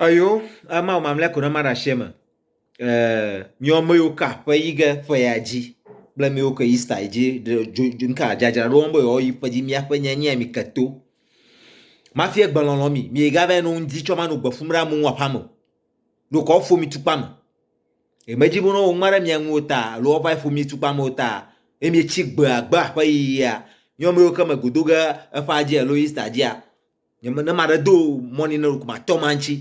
Eyo ama wò mamlɛ ko ɖe ma ɖe ashi me. Eh, miɔ me yo ka ƒe yi ge ƒe ya dzi. Kple miwo ke yi sta yi dzi dzodzo ka dzadzra ɖo wɔm be yewoa yi ƒe dzi mia ƒe nye nye mi ke to. Ma fie gbe lɔlɔ mi, mi ga vɛ no ŋdi tsɔ ma no gbe fum ɖe amu ŋu aƒa me. Ɖo kɔ fo mi tukpa me. Eye medzi be ne woŋlɔ ɖe mia ŋu o ta, alo woava ƒo mi tukpa me o ta, eye mietsi gbe agbe aƒe yiyia, nye ame yiwo ke me go do ge eƒea dzi alo Easter dzia, nye me ne maɖe do mɔ ne ne ɖeko matɔ ma ŋuti.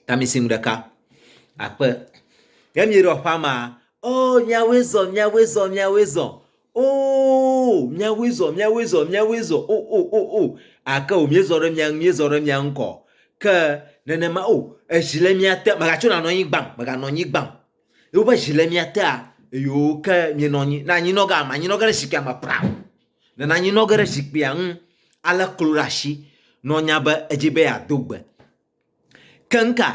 Ta mi si nu ɖeka akpe. Ne mieɖɔ ƒea mea, oh miawoe zɔ, miawoe zɔ, miawoe zɔ. Oo, míawoe zɔ, míawoe zɔ, míawoe zɔ, o, o, o, o, ake o, míezɔ ɖe mia ŋu, míezɔ ɖe mia ŋu kɔ. Ke nenema o, ezi le mia te, mègatso nanɔ anyi gbaŋ, mèganɔ anyi gbaŋ. Yehowa be zi le mia tea, eyo ke mienɔ anyi, ne anyinɔ ge, anyinɔ ge ɖe zikpuia me praŋ. Ne anyinɔ ge ɖe zikpuia ŋu, alé klo ɖe asi nɔ nya be edzi be yeado gbe. Keŋka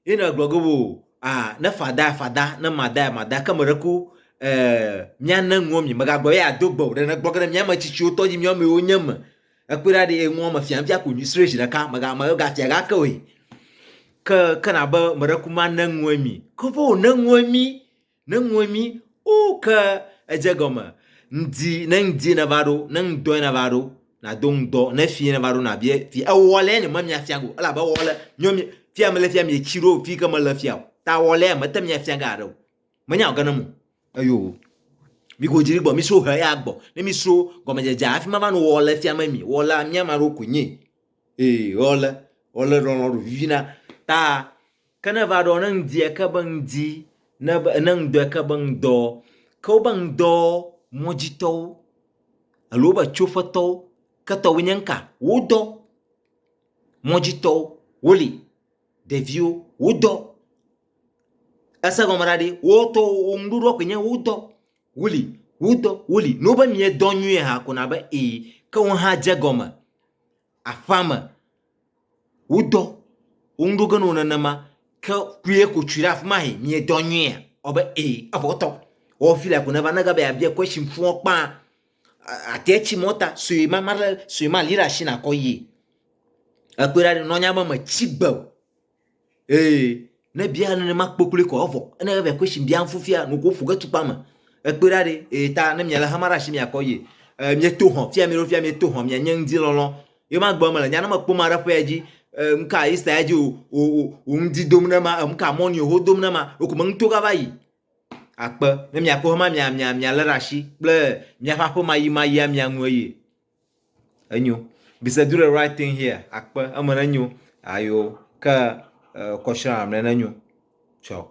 Ye na gblɔ ge wo ah ne fada fada ne mada mada ke me ɖe ko eh mia ne ŋuɔ mi mega gblɔ ye ado gbe o ɖe ne gblɔ ge ɖe mia me tsitsi wotɔ dzi mia me wo nye me ekpe ɖa ɖe ŋuɔ me fia fia ko nyi sre zi ɖeka mega mega fia ga ke we ke ke na be me ɖe ku ma ne ŋuɔ mi ke vo ne ŋuɔ mi Ne ŋue mi o ke edze gɔme ŋdi ne ŋdi ne va ɖo ne ŋdɔe ne va ɖo na do ŋdɔ ne fi ne va ɖo na bie fi ewɔ lɛ ne me mia fia go ela be wɔ lɛ nyɔ mi fi ame le fia mi etsi ɖo fi ke me le fia o ta wɔ lɛ me te mia fia ga ɖo me nya ge ne mo eyo mi go dzi gbɔ mi so he ya gbɔ ne mi so gɔme dze dze afi ma va no wɔ le fia me mi wɔ la mia ma ɖo ko nyi e wɔ le wɔ le lɔlɔ ɖo vivi na ta Ke ne eva ɖɔ, ne ŋdi eke be ŋdi, ne be, ne ŋdɔ eke be ŋdɔ, ke wobe ŋdɔ mɔdzitɔwo, alo wobe tsoƒetɔwo, ke tɔwòe nye ŋka? Wodɔ. Mɔdzitɔwo, woli. Ɖeviwo, wodɔ. Ese gɔme ɖa ɖi, wotɔ wò nuɖoɖoa koe nye wodɔ. Woli, wodɔ, woli. Ne wobe miedɔ nyuie hã ko na be ee, ke wohã dze gɔme aƒea me. Wodɔ wo ŋu ɖo ge ne wò nenema. Ke ku ye ko tsui ɖe afi ma he, miedɔ nyuiea? Ewɔ abe ee, evɔ wotɔ. Wɔ fi la ko neva ne gabe yeabia question fũɔ kpã, àte tsi mɔ ta sue ma ma ɖe sue ma li ɖe asi nakɔ yie. Ekpɔe ɖa ɖe nɔ̃ nya be metsi gbe o. Ee, ne bia nenema kpokploe kɔ evɔ. Ene ebe ko shin bia fufia no ko fuge tukpa me. Ekpe da de e ta ne miala hama rashi mia kɔ ye. E mi to hon fia mi ro fia mi to hon mia nye ngzi lolo. Ye ma gbe mele nyana me kpo ma rapo ya ji. E mka isa ya ji o o o o ngzi dom ne ma e mka moni o ho dom ne ma. Oko me ngto ga va yi. Akpe ne mia ko hama mia mia mia le rashi kple mia fa po ma yi ma yi ya mia nwe ye. Enyo. Be said do the right thing here. Akpe eme ne nyo. Ayo ke kɔshra amre ne nyo. Ciao.